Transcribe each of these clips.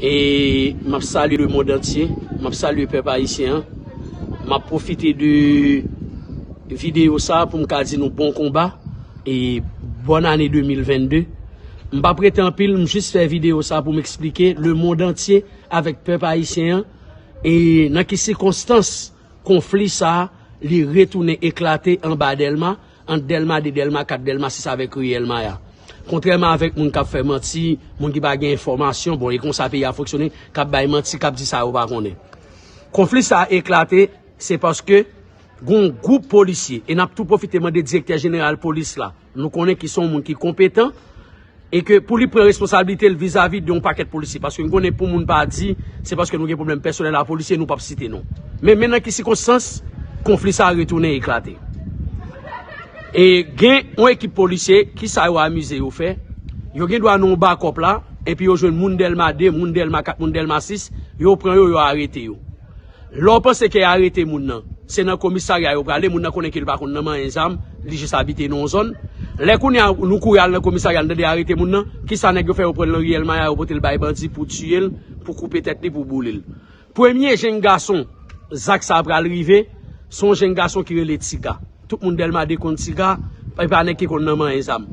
E m ap salye le mond antye, m ap salye pèp ayisyen an. M ap pwofite de videyo sa a pou m ka di nou bon konba e bòn ane 2022. M pa prete anpil, m jis fè videyo sa a pou m eksplike le mond antye avèk pèp ayisyen an e nan ki sikonstans konfli sa a li retounen eklate anba Dèlma. Ant Dèlma 2, Dèlma 4, Dèlma 6 avèk ri El Maya. Kontrèman avèk moun k ap fè manti, moun ki pa gen enfòmasyon, bon e konsa peyi a fonksyone, k ap bay manti, k ap di sa yo pa konnen. Konfli sa a eklate se paske gon gwoup polisye e n ap tou pwofite mande direktè jeneral polis la, nou konnen ki s on moun ki konpetan, E ke pou li pran responsablite l vizavi de yon pakèt polisye. Paske n konnen pou moun pa di, se paske nou gen pwoblèm pèsonèl a polisye, nou pap site non. Men, men nan ki sikonstans, konfli sa a retounen eklate. E gen yon ekip polisye, ki sa yo amize yo fè? Yo gen dwa nan yon bakòp la, enpi yo jwenn moun Dèlma 2, moun Dèlma 4, moun Dèlma 6, yo pran yo, yo arete yo. Lè w panse ke arete moun nan, se nan komisarya yo prale, moun nan konnen ke li pa konn nan manyen zam, li jis abite nan yon zòn. Lè kounye a nou kouri al nan komisarya nou tande arete moun nan, kisa nèg yo fè yo pran l nan riyèl maya yo pote l bay bandi pou tiye l, pou koupe tèt li, pou boule l. Premye jenn gason zak sa pral rive, se yon jenn gason ki rele Tiga. Tout moun Dèlma 2 konn Tiga, e pa nèg ki konn nan manyen zam.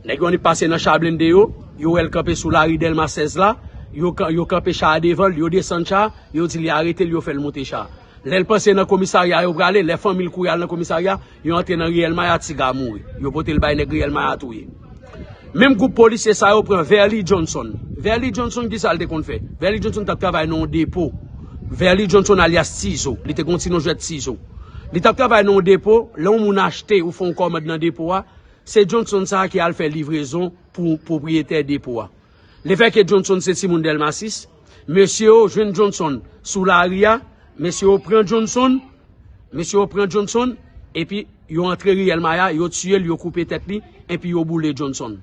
Nèg yo annik pase nan cha blende yo, yo wè l kanpe sou lari Dèlma 16 la, yo kanpe cha a devan l, yo desann cha a, Yo di li arete l yo fè l moute cha. Lè l panse nan komisarya yo prale, lè fanmi l kouri al nan komisarya, yo antre nan riyèl maya ti ga mouri. Yo pote l bay nèg riyèl maya touye. Menm gwoup polisye sa yo pran Verly Johnson. Verly Johnson ki sa l te konn fè? Verly Johnson t ap travay nan yon depo. Verly Johnson alyas Tizo. Li te gen yon ti non jwèt Tizo. Li t ap travay nan yon depo, lè yon moun achte ou fè yon kòmand nan depo a, se Johnson sa a ki al fè livrezon pou pwopriyetè depo a. Le fait que Johnson se timoun Delma 6, mesye yo jwenn Johnson sou lari ya, mesye yo pran Johnson, mesye yo pran Johnson, epi yo antre riyèl Maya, yo tiye l, yo koupe tèt li, enpi yo boule Johnson.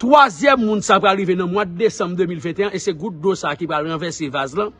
Twazyèm moun sa pral rive nan mwad desanm 2021 e se gout dlo sa ki pral ranvèse vaz lan.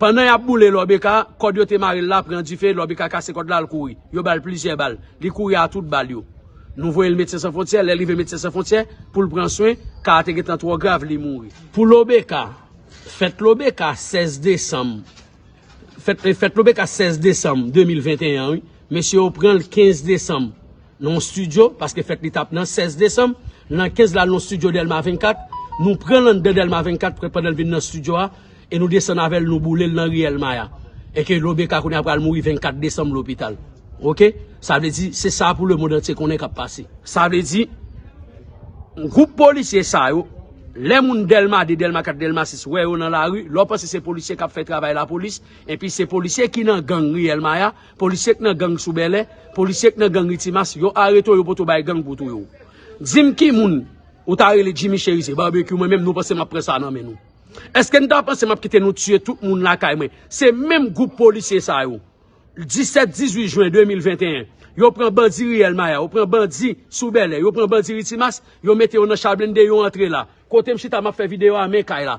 Pandan y ap boule Lòbeka, kòd yo te mare l la pran dife, Lòbeka kase kòd la, l kouri. Yo ba l plizyè bal. Li kouri a tout bal yo. Nou voye l Medsen San Fwontyè, lè l rive Medsen San Fwontyè, pou l pran swen, ka a te gen tan twò grav, li mouri. Pou Lòbeka, Fèt Lòbeka 16 desanm Fèt Lòbeka 16 desanm 2021 an wi, mesye yo pran l 15 desanm nan yon stidyo, paske fèt li t ap nan 16 desanm, nan 15 la l nan yon stidyo Dèlma 24, nou pran l anndan Dèlma 24 pandan l vin nan stidyo a, E nou desann avèl nou boulel nan riyèl maya e ke lobeka kounye a pral mouri 24 desanm lopital ok sa vle di se sa pou lemond antye konnen kap pase. Sa vle di Gwoup polisye sa yo lè moun dèlma 2 dèlma 4 dèlma 6 wè yo nan lari lè w panse se polisye kap fè travay lapolis enpi se polisye ki nan gang riyèl maya polisye k nan gang sou bèlè polisye k nan gang ritimas yo arete w yo pote w bay gang pou touye w di m ki moun ou ta rele jimmy cherizier barbecue mwen menm nou panse map pran sa nan men nou. Eske nou ta panse map kite nou tiye tout moun lakay mwen? Se menm gwoup polisye sa yo. 17, 18 jwen 2021, yo pran bandi riyèl maya, yo pran bandi sou bèlè, yo pran bandi ritimas, yo mete yo nan cha blende, yo antre la. Kote m chita map fè videyo a men kay la.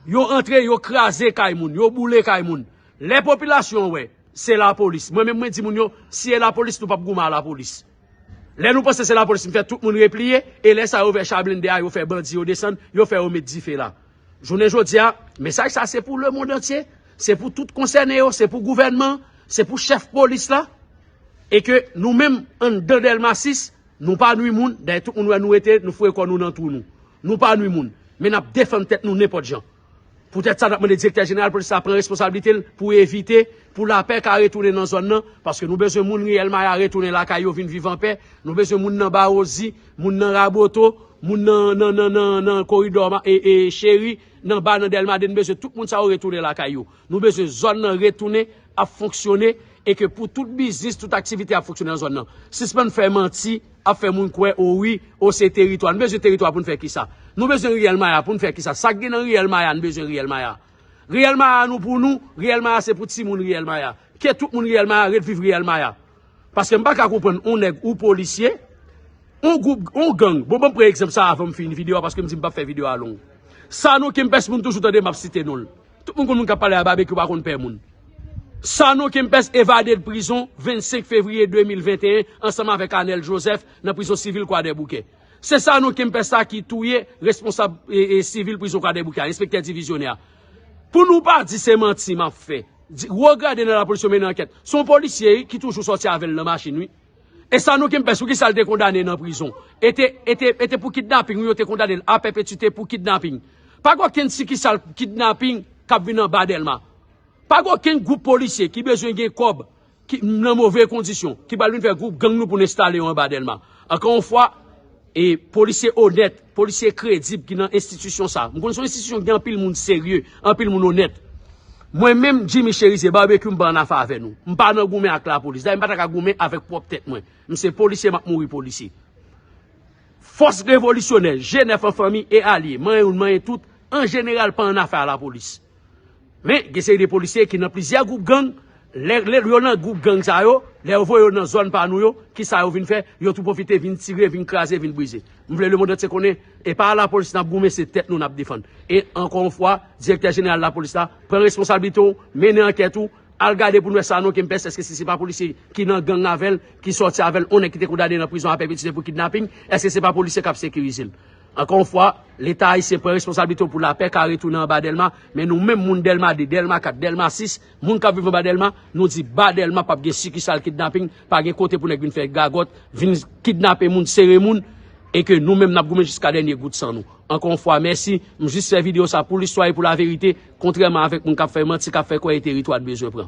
Yo antre, yo kraze kay moun, yo boule kay moun. Lè popilasyon wè, se lapolis. Mwen menm mwen di moun yo, si e lapolis nou pap goumen a lapolis. Lè nou panse se la police fè tout moun repliye e lè sa yo vè cha blende a yo fè bandi yo desann yo fè yo met dife la jounen jodia mesaj sa se pou le mond antye se pou tout konsène yo se pou gouvènman se pou chèf police la e ke nou menm anndan delma 6 nou pa nwi moun dayè tout moun wè nou rete nou foure kò nou nan twou nou nou pa nwi moun men nap defann tèt nou nenpòt jan. Poutèt sa, n ap mande Direktè Jeneral Polis la pran responsablite l pou evite pou lapè ka retounen nan zòn nan, paske nou bezwen moun Riyèl Maya retounen lakay yo vin viv anpè, nou bezwen moun nan Bawozi, moun nan Raboto, moun nan Koridò Cheri, nan Ba, nan Dèlma 2, n bezwen tout moun sa yo retounen lakay yo. Nou bezwen zòn nan retounen ap fonksyone e ke pou tout biznis, tout aktivite ap fonksyone nan zòn nan. Sispann fè manti, ap fè moun kwè o wi, o se teritwa. Nou bezwen teritwa pou n fè kisa? Nou bezwen Riyèl Maya pou n fè kisa? Sa k gen nan Riyèl Maya n bezwen Riyèl Maya? Riyèl Maya nou pou nou, Riyèl Maya se pou timoun Riyèl Maya. Ke tout moun Riyèl Maya ret viv Riyèl Maya. Paske m paka konprann on nèg ou polisye, on gwoup, on gang. Bon banm pran egzanp sa avanm fini video a paske m di m pap fè video a long. Sanon Kempès moun toujou tande map site nonl. Tout moun konn moun kap pale a Babekyou pa konn pè moun. Sanon Kempès evade de prizon 25 fevriye 2021 ansanm avèk Anel Joseph nan prizon sivil Kwadèboukè. Se Sanon Kempès sa ki touye responsab sivil prizon Kwadèboukè a, enspektè divizyonè a. Pou nou pa di se manti map fè. Di wo grade nan lapolis yo mennen ankèt. Se yon polisye wi ki toujou sòti avè l nan machin wi. E sa nou kenpes pou kisa l te kondane nan prizon. E te e te e te pou kidnaping wi yo te kondane l a pèpetite pou kidnaping. Pa gen okenn sikisal kidnaping k ap vin anba Dèlma. Pa gen okenn gwoup polisye ki bezwen gen kòb. ki nan move kondisyon, ki pral vin fè gwoup gang nou pou n enstale yo anba Dèlma. Ankò yon fwa, e polisye onèt, polisye kredib ki nan enstitisyon sa a. M konnen se yon enstitisyon ki gen anpil moun serye, anpil moun onèt. Mwen menm, Jimmy Cherizier, Barbecue m pa ann afe avè nou. M pa nan goumen ak lapolis. Dayè m pa ta ka goumen avèk pwòp tèt mwen. M se polisye, m ap mouri polisye. Fòs revolisyonè, G9 an fanmi e alye, manyen youn manyen tout, an jeneral pa ann afe a lapolis. Men gen seri de polisye ki nan plizyè gwoup gang, lè yo nan gwoup gang sa yo, lè yo voye yo nan zòn pa nou yo, ki sa yo vin fè, yo tou pwofite vin tire, vin kraze, vin brize. M vle lemond antye konnen, e pa lapolis n ap goumen, se tèt nou n ap defann. E ankò yon fwa, direktè jeneral lapolis la, pran responsablite w, mennen ankèt ou, al gade pou n wè Sanon Kempès, èske se se pa polisye ki nan gang avè l, ki sòti avè l, yon nèg ki te kondane nan prizon a pèpetuite pou kidnaping, èske se pa polisye k ap sekirize l? Ankò yon fwa, Leta ayisyen pran responsablite yo pou lapè ka retounen anba Dèlma, men nou menm moun Dèlma 2, Dèlma 4, Dèlma 6, moun k ap viv anba Dèlma, nou di ba Dèlma p ap gen sikisal kidnaping, pa gen kote pou nèg vin fè gagòt, vin kidnape moun, sere moun, e ke nou menm n ap goumen jiska dènye gout san nou. Ankò yon fwa, mèsi, m jis fè videyo sa pou listwa e pou laverite, kontrèman avèk moun k ap fè manti, k ap fè kwè e teritwa n bezwen pran.